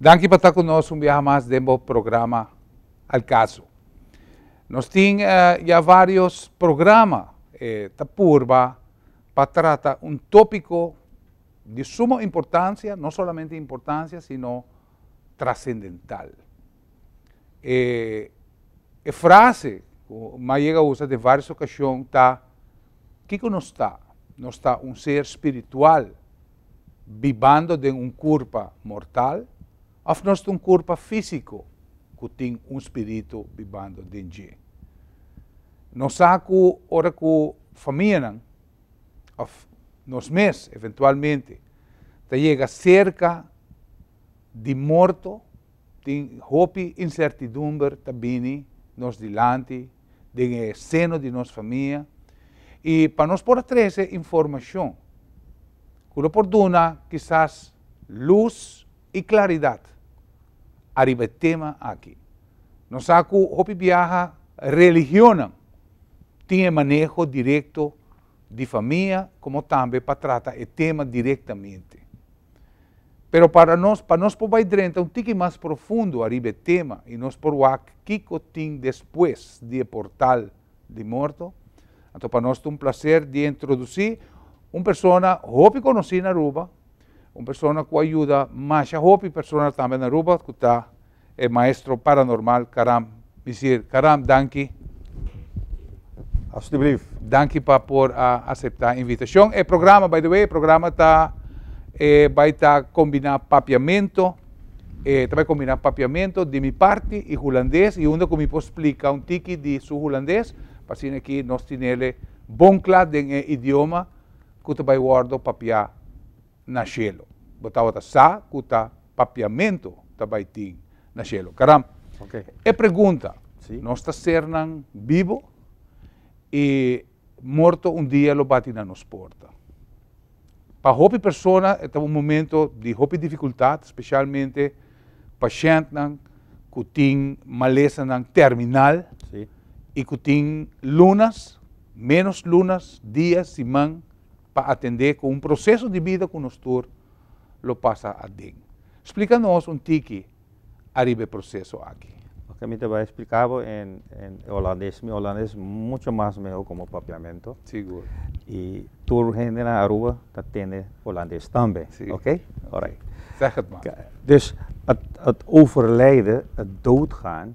Danki pa ta ku nos un biaha mas den bo programa Al Caso. Nos tin ya varios programa e ta purba pa trata un topiko di sumo importansia, no solamente importansia sino trasendental. E e frase ku Mai yega usa den vários okashon ta, Kiko nos ta? Nos ta un ser spiritual bibando den un kurpa mortal òf nos ta un kurpa físiko ku tin un spiritu bibando den dje? Nos sa ku ora ku famianan òf nos mes eventualmente ta yega serka di morto, Tin hopi insertidumber ta bini nos dilanti den e seno di nos famia, i pa nos por a trese informashon ku lo por duna kisas lus i klaridat ariba e tema aki. Nos sa ku hopi biaha religionnan tin e maneho direkto. di famia komo tambe pa trata e tema direktamente. Pero para nos, pa nos por bai drenta un tiki mas profundo ariba e tema i nos por wak kiko tin despues di e portal di morto, anto pa nos ta un plaser di introdusí un persona hopi konosí na Aruba, un persona ku a yuda masha hopi persona tambe na Aruba ku ta. E maestro paranormal Karam Misier Karam danki. Alstublief. Danki pa por a asepta invitashon. E programa by the way e programa ta e bai ta kombina papiamento e ta bai kombina papiamento di mi parti i hulandes i unda ku mi por splika un tiki di su hulandes pa asina ki nos tinele bon kla den e idioma ku ta bai wòrdu papiá. na shelo. Bo tabata sa ku ta papiamentu ta bai tin na shelo? Karam, e pregunta, Nos ta sernan bibu i morto un dia lo bati na nos porta. Pa hopi persona e ta un momento di hopi difikultat, spesialmente pashèntnan ku tin malesanan terminal i ku tin lunas, menos lunas, dia, siman pa atendé ku un proseso di bida ku nos tur lo pasa aden. Splika nos un tiki ariba e proseso aki. Oke, mi ta bai splika bo en e holandes. Mi holandes mucho mas mehó komo papiamentu. Sigur. I tur hende na Aruba ta tende holandes tambe. Si. Oke? Alraight. Sèg het mas. Dus, het overlijden, het doodgaan.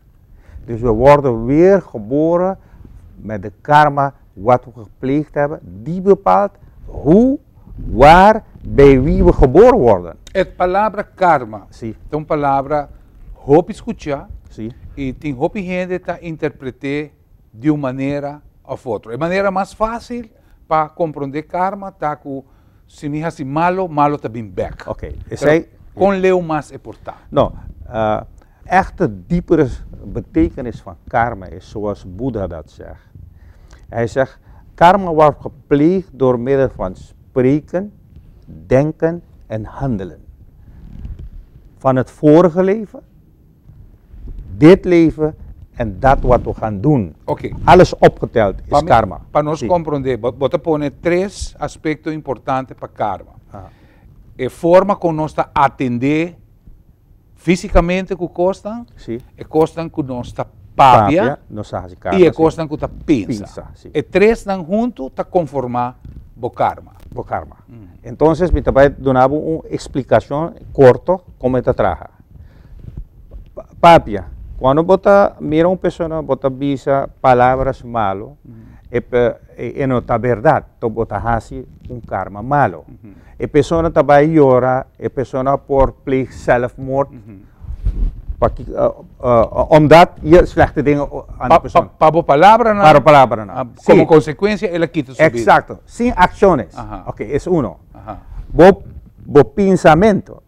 Dus we worde weer geboren met de karma wat we gepleegd hebben, die bepaalt hoe, waar, bij wie we geboren worden. E palabra karma Sí, ta un palabra hopi skucha sí, i tin hopi hende ta interpret'é di un manera of otro. E manera mas fácil pa comprende karma ta ku si mi hasi malo, malo ta bin bek. Ok, esei Kon leu mas e por ta? No, echte diepere betekenis van karma is zoals Boeddha dat zeg. Hij zegt, karma word gepleegd door middel van spreken, denken en handelen. Van het vorige leven, dit leven en dat wat we gaan doen. Oké. Alles opgeteld is karma. Pa nos Sí. komprondé, bo bo ta pone tres aspekto importante pa karma. Aha. E forma kon nos ta atendé físikamente ku kosnan, Sí. e kosnan ku nos ta papia Papia, nos a hasi karma. i e sí. kosnan ku ta pensa. Pensa, sí. E tresnan huntu ta konformá bo karma. Bo karma. Entonces mi ta bai duna bo un eksplikashon korto kon e ta traha. Papia, cuando bo ta mira un persona bo ta bisa palabras malo e no ta berdad, to bo ta haci un karma malo. E persona ta bay yora, e persona a por pleeg zelfmoord, omdat ye slechte dingen aan di persona. Pa bo palabranan. Pa bo palabranan. Como consecuencia el a kita su bida. Exacto, sin acciones. Oké, es uno. Bo pensamiento.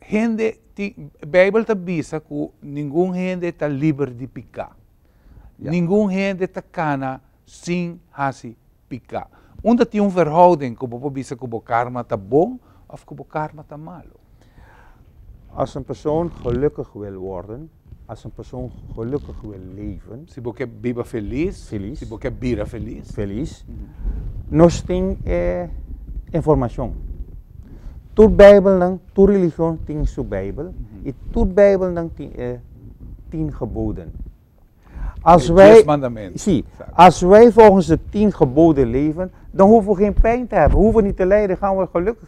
hende tin, Bijbel ta bisa cu ningun hende ta liber di pica. Ya. Ningun hende ta cana sin haci pica. Unda tin un verhouding cu bo por bisa cu bo karma ta bon of cu bo karma ta malo? Als een persoon gelukkig wil worden, As un persoon gelukkig wil leven. Si bo ke biba feliz. Feliz. Si bo ke bira feliz. Feliz. Nos tin e informacion. Tur bijbelnan, tur religion tin su bijbel y tur bijbelnan tin e tien geboden. As wij. Dies mandamenten. Si. As wij volgens de tien geboden leven, dan hoeven we geen pijn te hebben. We hoeven niet te lijden, gaan we gelukkig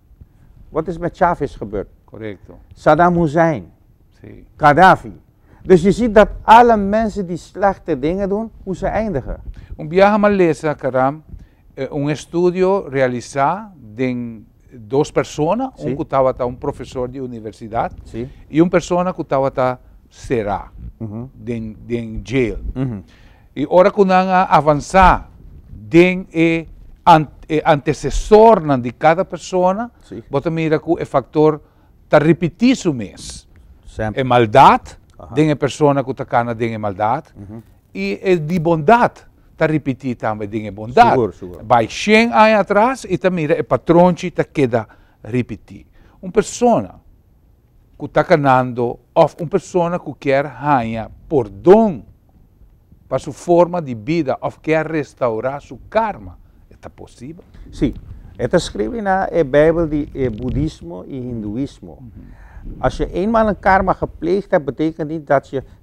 Wat is met Chavez gebeurd? Correcto. Saddam Hussein. Si. Gaddafi. Dus je ziet dat alle mensen die slechte dingen doen, hoe ze eindigen. Un biaha m'a lesa, Karam, un estudio realisa den dos persona, un ku tabata un profesor di universidat i un persona ku tabata sera den jail. I ora ku nan a avansá den e e antesesornan di kada persona, bo ta mira ku e faktor ta ripití su mes. E maldat den e persona ku ta kana den e maldat, i e di bondat ta ripití tambe den e bondat. Bai shen aña atras i ta mira e patronchi ta keda ripití. Un persona ku ta kanando òf un persona ku kier haña pordon pa su forma di bida òf kier restaurá su karma, e ta posibel? Sí. E ta skirbi na e beibel di e budismo i hinduismo. As je eenmaal een karma gepleegd hebt, betekent niet dat je.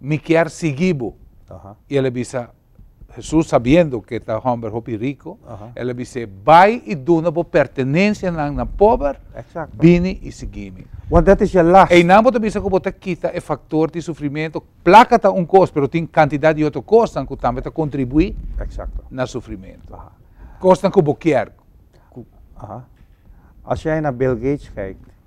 Mi kier sigui bo. I el a bisa Hesus, sabiendo ke ta hòmber hopi riko, el a bis'é, Bai i duna bo pertenensianan na pober, bini i sigui mi. Wan dat es ya las. Einan bo ta bisa ku bo ta kita e faktor di sufrimentu. Plaka ta un kos, pero tin kantidat di otro kosnan ku tambe ta kontribuí na sufrimentu. Kosnan ku bo kier. Ku. As jij naar Bill Gates kijkt.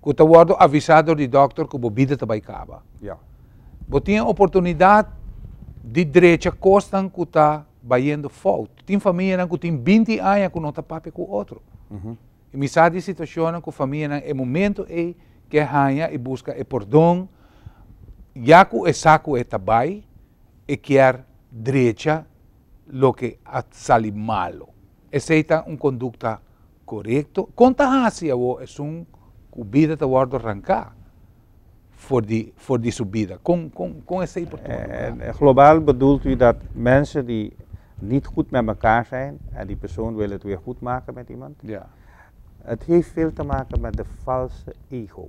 Cu ta wordo avisa dor di dokter cu bo bida ta bay caba. Bo tin e oportunidad di drecha cosnan cu ta bayendo fout. Tin famianan cu tin binti aña cu no ta papia cu otro. Y mi sa di situacionnan cu famianan e momento ey ke haña y busca e pordon. Ya cu e sa cu e ta bay, e kier drecha loke a sali malo. Esei ta un kondukta korekto? Kon ta hasi awor esun ku bida ta wòrdu ranká for di for di su bida? Kon kon kon esei por tuma lugá? Global bedult ui dat mense di nit gud met mekaar zijn en di persoon wil het weer goed maken met iemand? Ja. Het heeft veel te maken met de valse ego.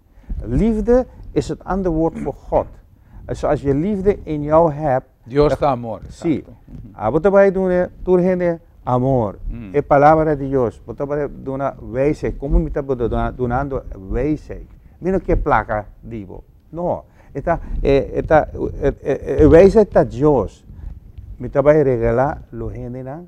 Liefde is het ander woord voor God. So as je liefde in jou hebt. Dios ta amor. Si. Abo te bai dune tur hende amor. Mm. E palabra di Dios. Bo ta bai duna wijsheid. Como mi ta dunando wijsheid. Mi no ke plaka di bo. No. Eta, e, eta, e, e, e wijsheid ta Dios. Mi ta bai regala lo hendenan.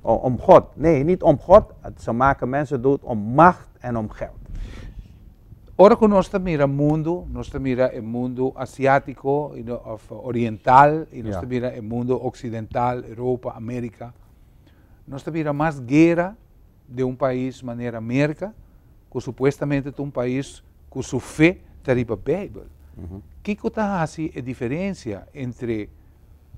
Om God, nee, niet om God, ze maken mensen dood om macht en om geld. Ora cu nos ta mira mundo, nos ta mira e mundo Asiatico of Oriental y nos ta mira e mundo Occidental, Europa, America, nos ta mira mas guera den un pais manera Merca, cu supuestamente ta un pais cu su fe ta riba Bijbel. Kico ta haci e diferencia entre.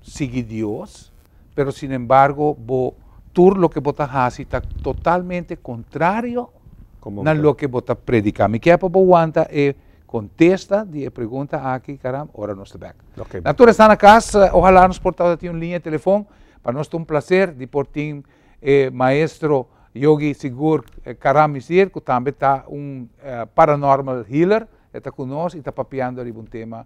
sigui Dios, pero sin embargo bo tur loke bo ta hasi ta totalmente contrario na loke bo ta predica. Mi kier pa bo wanta e contesta di e pregunta aki, caram, ora nos ta bek. Na tur esta na cas, ohala nos por tabata tin un linea telefon, pa nos ta un placer di por tin e maestro Yogi Sigur Karamizir, cu tambe ta un paranormal healer, e ta cu nos y ta papiando riba un tema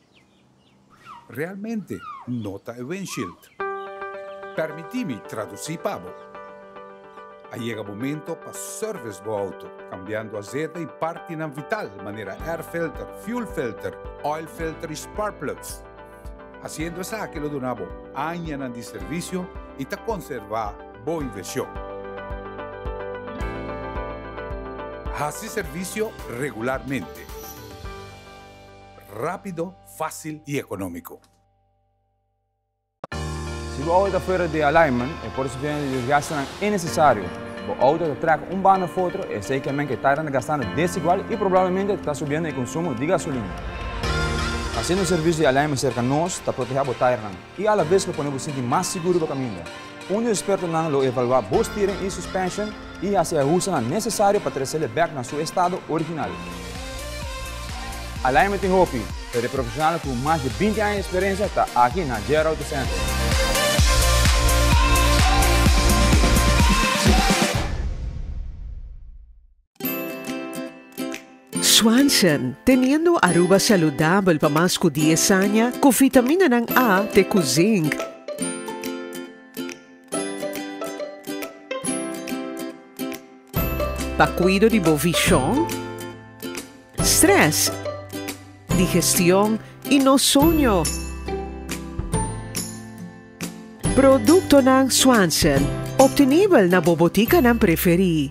Realmente no ta e windshield. Permiti mi traduci pa bo. A yega momento pa service bo auto, cambiando azete y partinan vital manera air filter, fuel filter, oil filter y spark plugs. Haciendo esaki lo duna bo añanan di servicio y ta conserva bo inversion. Haci servicio regularmente. rápido, fácil i ekonómiko. Si bo auto ta fuera di alignment, e por sufriendo di desgastenan innesesario. Bo auto ta trèk un banda of otro, esei ke men ke tarda na gastando desigual i probablemente ta subiendo e konsumo di gasolina. Hasiendo un servisio di alignment serka nos ta proteha bo tairnan. i alabes lo pone bo sinti mas siguru pa kaminda. Un di espertonan lo evaluá bo steering i suspension i hasi e ahusanan nesesario pa tresele bèk na su estado original. Alignment tin hopi, pero e profeshonalnan ku mas di binti aña di eksperensia ta aki na JR Auto Center. Swanson, Teniendo Aruba Saludabel pa mas cu dies aña, cu vitaminanan A te cu Zinc. Pa cuido di bo vision, stress, digestion y no soño. Productonan Swanson, obtenibel na bo boticanan preferi.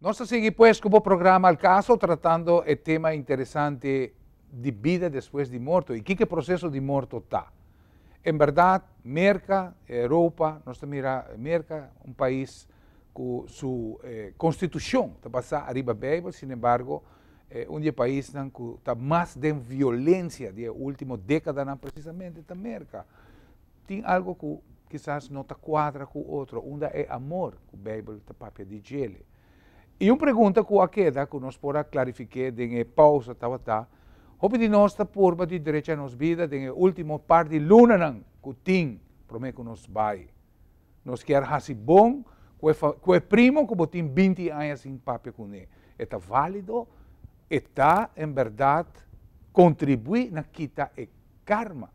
Nos ta sigui pues cu bo programa Al Caso tratando e tema interesante di bida despues di morto y kiko e proceso di morto ta. En berdad Merca, Europa, nos ta mira Merca un pais cu su constitucion ta basa ariba Bijbel, sin embargo e un di e paisnan cu ta mas den violencia di e ultimo decadanan precisamente ta Merca. Tin algo ku kisas no ta kuadra ku otro, unda e amor ku Beibel ta papia di djele. I un pregunta ku a keda ku nos por a klarifik'é den e pausa tabata, Hopi di nos ta purba di drecha nos bida den e último par di lunanan ku tin promé ku nos bai? Nos kier hasi bon ku e ku e primo ku bo tin binti aña sin papia kuné. E ta válido? E ta, en bèrdat, kontribuí na kita e karma?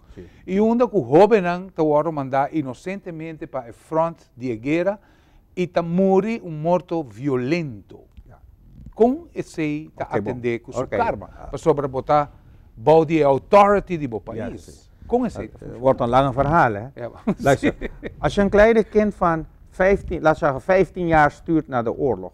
i unda ku hóbennan ta wòrdu mandá inosentemente pa e front di e guera i ta muri un morto violento. Kon esei ta atendé ku su karma? Pasobra bo ta bou di e authority di bo pais. Kon esei ta funshona? Wòrdu un lange ferhal, hè. Luister, Ashan Kleijde, kind van vijftien, laat we zeggen vijftien jaar, stuurt na de oorlog.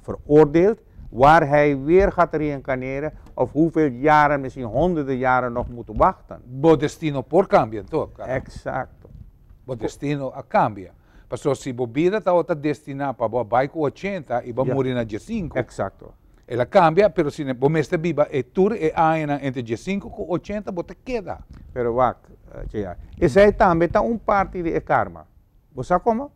veroordeeld, waar hij weer gaat reïncarneren of hoeveel jaren, misschien honderden jaren nog moeten wachten. Bo destino por cambia en todo caso. Exacto. Bo destino a cambia. Paso si bo bida tabata destina pa bo a bay cu ochenta y bo a muri na diescinco. Exacto. El a cambia, pero si bo mester biba e tur e añanan entre diescinco cu ochenta bo ta keda. Pero wak, JR. Esey tambe ta un parti di e karma. Bo sa como?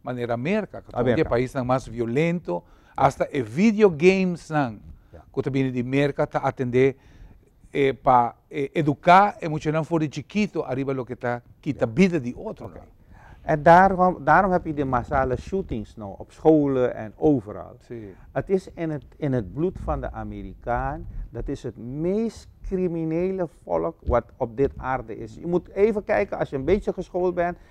manera Merka, ku ta un di e paisnan mas violento, asta e video gamesnan ku ta bini di Merka ta atendé pa eduká e muchanan for di chikitu ariba loke ta kita bida di otronan. En daarom heb je de massale shootings nou op scholen en overal. Het is in het bloed van de Amerikaan, dat is het meest criminele volk wat op dit aarde is. Je moet even kijken, als je een beetje geschoold bent,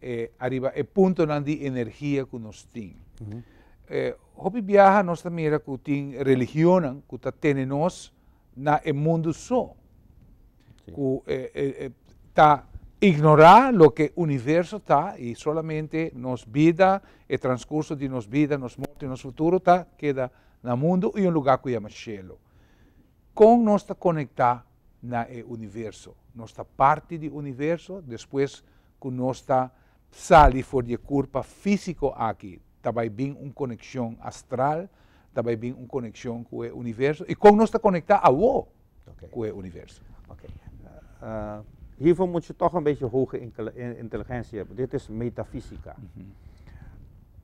e ariba e puntonan di energia ku nos tin. E hopi biaha nos ta mira ku tin religionnan ku ta tene nos na e mundu so, ku e e ta ignorá loke universo ta i solamente nos bida, e transkurso di nos bida, nos morto i nos futuro ta keda na mundu i un lugá ku yama shelu. Kon nos ta konektá na e universo. Nos ta parti di universo despues ku nos ta sali for di e kurpa físiko aki, ta bai bin un konekshon astral, ta bai bin un konekshon ku e universo. I kon nos ta konektá awo ku e universo? Oké. Hifo mucho tòg un beishe hoge inteligensia, dit is metafísika.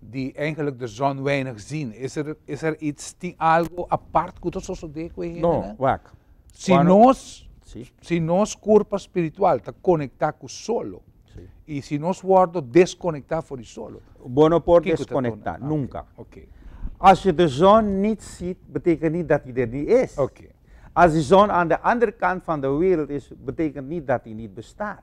di eigenlijk de zon weinig zien. Is er, is er iets, tin algo apart ku ta sosodé ku e hende? No, wak. Si Cuando- nos, Sí. si nos kurpa spiritual ta konektá ku solo, Sí. i si nos wòrdu deskonektá for di solo, Bo no por kiko ta deskonektá, duna? nunka. Oké, As je de zon nit ziet, betekent nit dat i der nit is. oké. As di zon aan de ander kant van de wereld is, betekent nit dat i nit bestaat.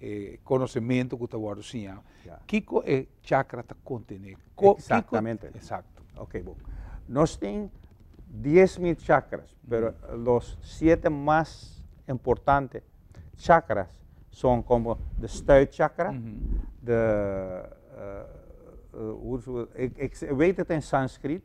e konosementu ku ta wòrdu siñá, kiko e chakra ta kontené? Eksaktamente. Eksakto. Ok, bo. Nos tin dies mil chakras, pero los siete mas importante chakras son komo de stuitchakra, de, e wei ta ta en sanskrit?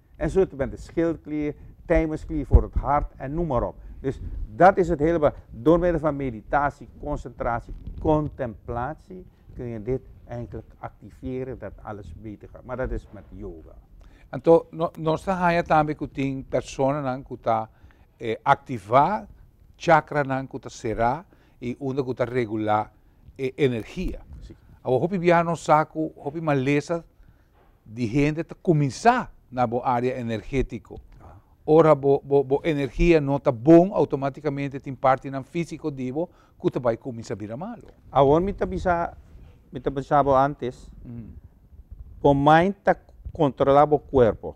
en su tipente schildklier, tijmensklier voor het hart en noem maar op. Dus dat is het hele door middel van meditatie, concentratie, contemplatie kun je dit eigenlijk activeren dat alles beter gaat. Maar dat is met yoga. En to no, nos ta haya tambe ku tin personanan ku ta e aktivá chakranan ku ta será i unda ku ta regulá e energia. Sí. Awor hopi bia nos sa ku hopi malesa di hende ta kuminsá na bo área energétiko. Ora bo bo bo energia no ta bon, outomátikamente tin partinan físiko di bo ku ta bai kuminsá bira malu. Awor mi ta bisa, mi ta bisa bo antes, bo mind ta kontrolá bo kuerpo.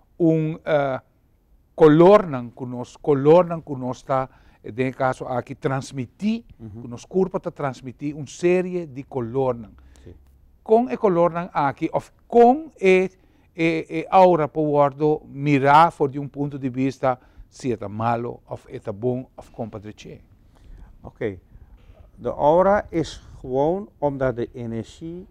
un kolornan ku nos kolornan ku nos ta den e kaso aki transmití ku nos kurpo ta transmití un serie di kolornan kon e kolornan aki òf kon e e aura por wòrdu mirá for di un punto di bista si e ta malu òf e ta bon òf kon pa dreché. Oke de aura es gewoon omdat de energie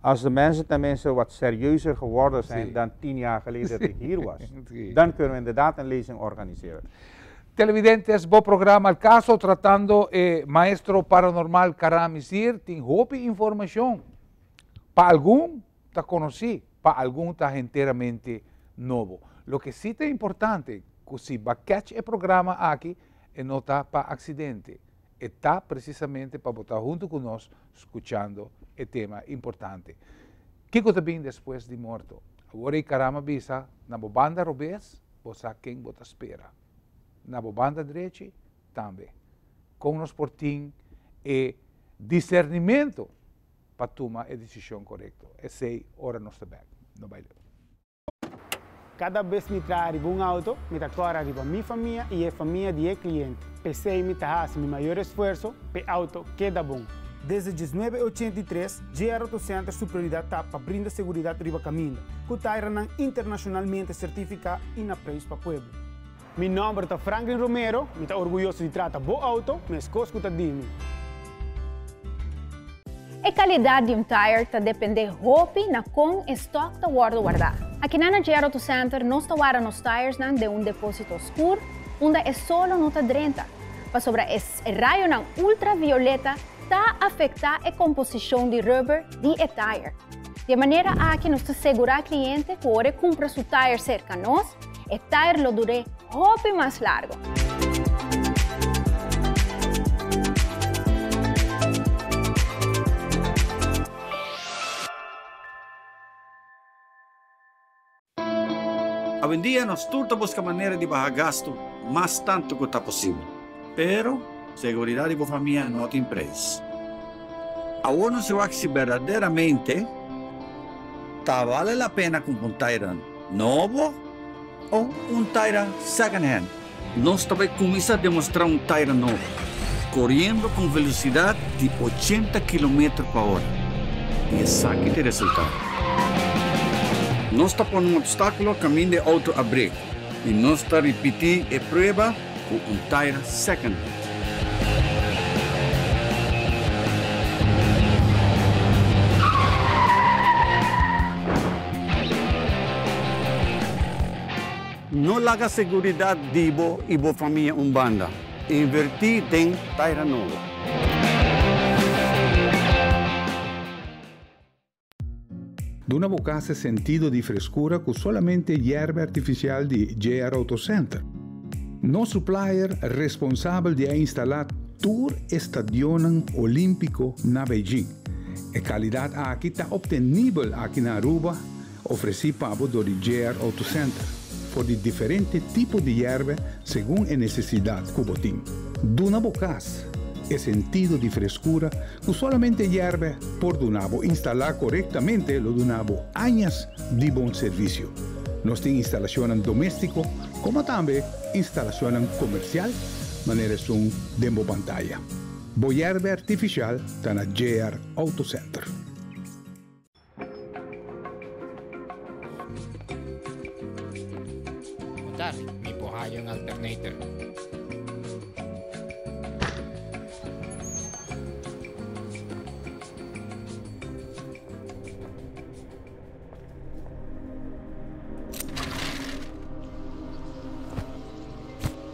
As de mensen ten minste wat serieuzer geworden zijn dan tien jaar geleden dat ik hier was, dan kunnen we inderdaad een lezing organiseren. Televidentes, bo programa El Caso tratando e maestro paranormal Karamis hier tin hopi informacion. Pa algun ta conoci, pa algun ta henteramente nobo. Loke si ta importante cu si ba catch e programa aki e no ta pa accidente. e ta presisamente pa bo ta huntu ku nos skuchando e tema importante Kiko ta bin despues di morto? Awor ei Karama bisa, na bo banda robes, bo sa ken bo ta spera. Na bo banda drechi, tambe. Kon nos por tin e disernimentu pa tuma e desishon korekto? Esei ora nos ta bèk. No bai leu. Kada bes mi traha riba un auto, mi ta kòrda riba mi famia i e famia di e kliente. P'esei mi ta hasi mi mayor esfuerso p'e auto keda bon. Desde diesnuebe ochenta i tres, JR Auto Center su prioridat ta pa brinda seguridat riba kaminda, ku tairanan internashonalmente sertifiká i na preis pa pueblo. Mi nòmber ta Franklin Romero. Mi ta orguyoso di trata bo outo, meskos ku ta di mi. E kalidat di un tire ta dependé hopi na kon e stòk ta wòrdu wardá. Akinan na JR Auto Center nos ta warda nos tiresnan den un depósito oskur unda e solo no ta drenta, pasobra e rayonan ultravioleta ta afektá e komposishon di rubber di e tire. Di e manera aki nos ta segurá kliente ku ora e kumpra su tire serka nos, E tair lo dur'é hopi mas largo. Awendia nos tur ta buska manera di baha gastu mas tantu ku ta posibel. Pero, seguridat di bo famia no tin preis. Awor nos wak si berdaderamente ta bale la pena kumpra un tairnan. Nobo o un taira second hand? Nos ta bai kuminsá demostrá un taira nobo, koriendo ku un velosidat di ochenta kilometer pa ora. I esaki ta e resultado. Nos ta pone un opstákulo kaminda e outo abré i nos ta ripití e prueba cu un tire second base. No laga seguridad di bo y bo famia un banda. Inverti den tire nobo. Duna bo casa sentido di frescura cu solamente yerbe artificial di JR Auto Center. Nos supplier responsabel di a instala tur e stadionnan Olimpico na Beijing. E calidad aki ta obtenibel aki na Aruba, ofreci pa bo door di JR Auto Center, for di diferente tipo di yerbe segun e necesidad cu bo tin. Duna bo cas e sentido di frescura ku solamente yèrbè por duna bo. Instalá korektamente lo duna bo añas di bon servisio. Nos tin instalashonnan doméstiko komo tambe instalashonnan komersial, manera esun den bo pantaya. Bo yèrbè artifishal ta na JR Auto Center. Mudas mi por haya un alternator.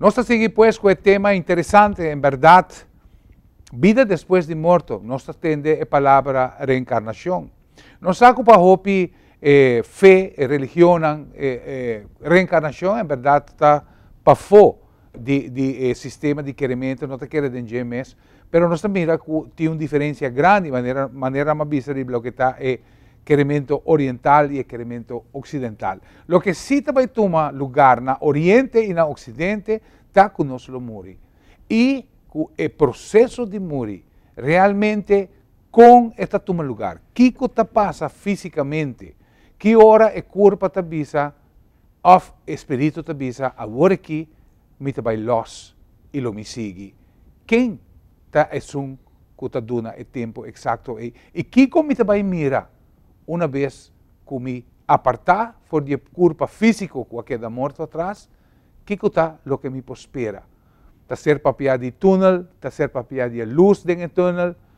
Nos ta sigui pues ku e tema interesante, en bèrdat, bida despues di morto. Nos ta tende e palabra reenkarnashon. Nos sa ku pa hopi e fe, e religionnan, e reenkarnashon en bèrdat ta pafó di e sistema di kerementu, no ta kere den dje mes. Pero nos ta mira cu tin un diferencia grandi manera manera nan bo a bisa riba loke ta e keremento oriental y e keremento occidental. Loke si ta bay tuma lugar na oriente y na occidente ta cu nos lo muri y cu e proceso di muri realmente con e ta tuma lugar, kico ta pasa fisicamente, ki ora e curpa ta bisa of e spiritu ta bisa awor aki mi ta bai lòs i lo mi sigui. Ken ta esun ku ta duna e tempu eksakto ei, i kiko mi ta bai mira una bes ku mi apartá for di e kurpa físiko ku a keda morto atras? Kiko ta loke mi por spera? Ta ser papiá di túnel? Ta ser papiá di e lus den e túnel?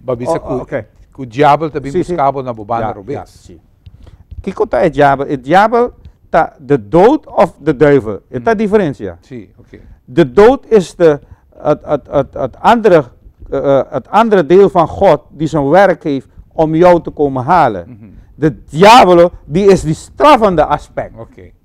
Bo a bisa ku ku diabel ta bin buska bo na bo banda robes? Si. Kiko ta e diabel? E diabel ta de dood of de duivel. E ta diferensia. Si, oké. De dood esta et andere et andere deel van God di zijn werk heeft om jou te komen halen. De diabel di es di strafende aspect. Oké.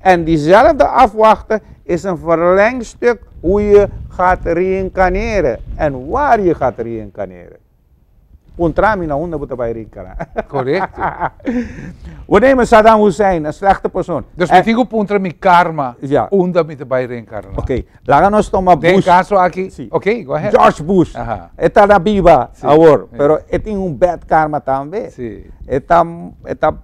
En diezelfde afwachta is een verlengstuk hoe je gaat reïncarneren en waar je gaat reïncarneren. Puntra mi na unda bo ta bai reïncarna. Correcto. We nemen Saddam Hussein, een slechte persoon. Dus mi tin ku puntra mi karma Ja. unda mi ta bai reïncarna. Oké, laga nos toma Den Bush. kaso aki, Sí. oké, go ahead. George Bush. Aha. E ta na biba Sí, awor, ja. pero e tin un bad karma tambe. Sí. E ta e ta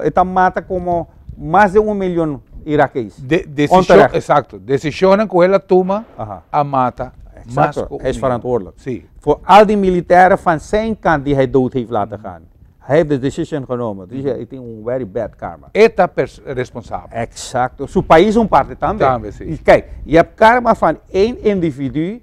e ta mata komo. mas den un milion irakees. Onterecht. Exacto. Decisionnan cu el a tuma a mata mas cu un milion. Si. Voor al die militairen van zijn kant die hij dood heeft laten gaan. Hij heeft de decision genomen. Dus hij tin un very bad karma. E ta responsabel. Exacto. Su pais un parte tambe. Tambe, si. Kijk, je hebt karma van één individu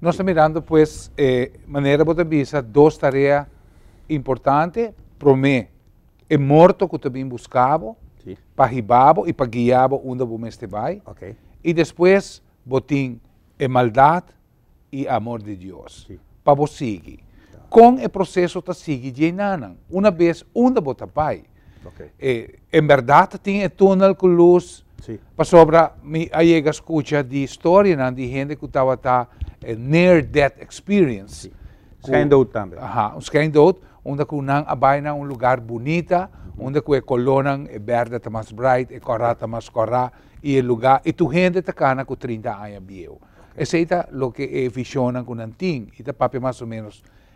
Nos ta mirando pues e manera bo ta bisa dos tarea importante, promé e morto ku ta bin buska bo, pa hiba bo i pa guia bo unda bo mester bai, i despues bo tin e maldat i e amor di Dios pa bo sigui. Kon e proseso ta sigui dje nan? Una bes unda bo ta bai, Okay. E, en verdad tin e tunnel cu luz. Sí. Pasobra mi a llega escucha di historianan di hende cu tabata e near death experience. Sí. Schijndood también. Aha, un schijndood, unda cu nan a bai na un lugar bonita, unda cu e colornan, e berde ta mas bright, e cora ta mas cora, y e lugar, y tu hende ta cana cu trinta aña bieu. Esey ta loke e visionnan cu nan tin, y ta papia mas o menos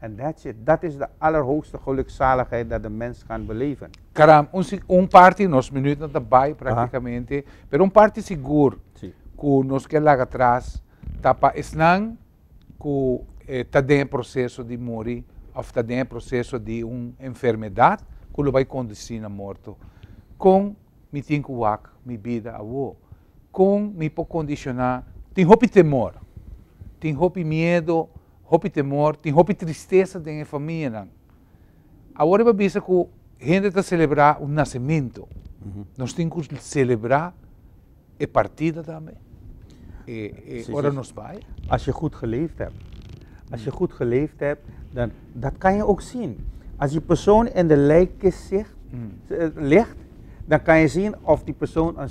En that's it. Dat is de allerhoogste gelukzaligheid dat de mens kan beleven. Karam, un si un parti, nos minuutnan ta bai praktikamente, pero un parti sigur Si. ku nos ke laga atras ta pa esnan ku ta den e proseso di muri òf ta den e proseso di un enfermedat ku lo bai kondusí na morto. Kon mi tin ku wak mi bida awo? Kon mi por kondisioná? Tin hopi temor, tin hopi miedu, hopi temor, tin hopi tristesa den e famianan. Awor e por bisa ku hende ta selebrá un nasementu, nos tin ku selebrá e partida tambe ora nos bai? As je goed geleefd hebt, as je goed geleefd hebt, dan dat kan je ook zien. As die persoon in de lijkkist ligt, dan kan je zien of die persoon een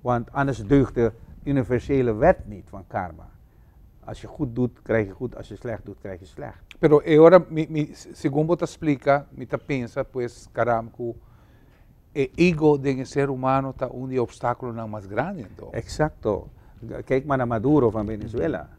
Want anders deugt de universele wet niet van karma. Als je goed doet, krijg je goed, als je slecht doet, krijg je slecht. Pero e ora mi, mi, segun bo ta splika, mi ta pensa pues, karam, ku e ego den e ser humano ta un di e opstakulonan mas grandi anto. Eksakto. Kijk maar na Maduro van Venezuela.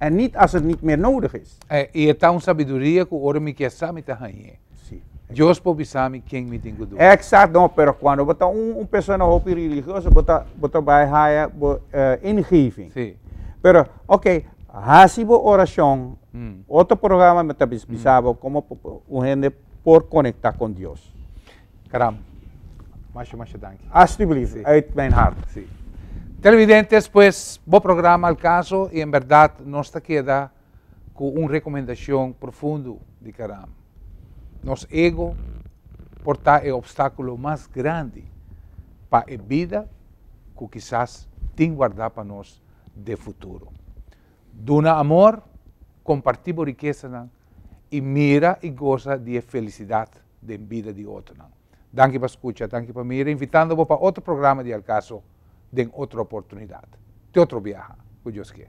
en nit as er nit mer nodig is. I e ta un sabiduria ku ora mi kier sa mi ta hañ'é. Si. Dios por bisami ken mi tin ku duna. Exact, no, pero cuando bo ta un un persona hopi religioso bo ta bo ta bai haya bo ingeving. Si. Pero ok, haci bo oracion, otro programa mi ta bisa bo como un hende por conecta con Dios. Caram. Masha masha danki. Alstublieft, uit mijn hart. Si. Televidentes, pues, bo programa al caso y en berdad nos ta keda cu un recomendacion profundo di Caram. Nos ego por ta e obstaculo mas grandi pa e bida cu kisas tin warda pa nos den futuro. Duna amor, comparti bo riquesanan i mira i gosa di e felisidat den bida di otronan. Danki pa skucha, danki pa mira, invitando bo pa otro programa di El Caso den otro oportunidat. Te otro biaha, ku Dios ke.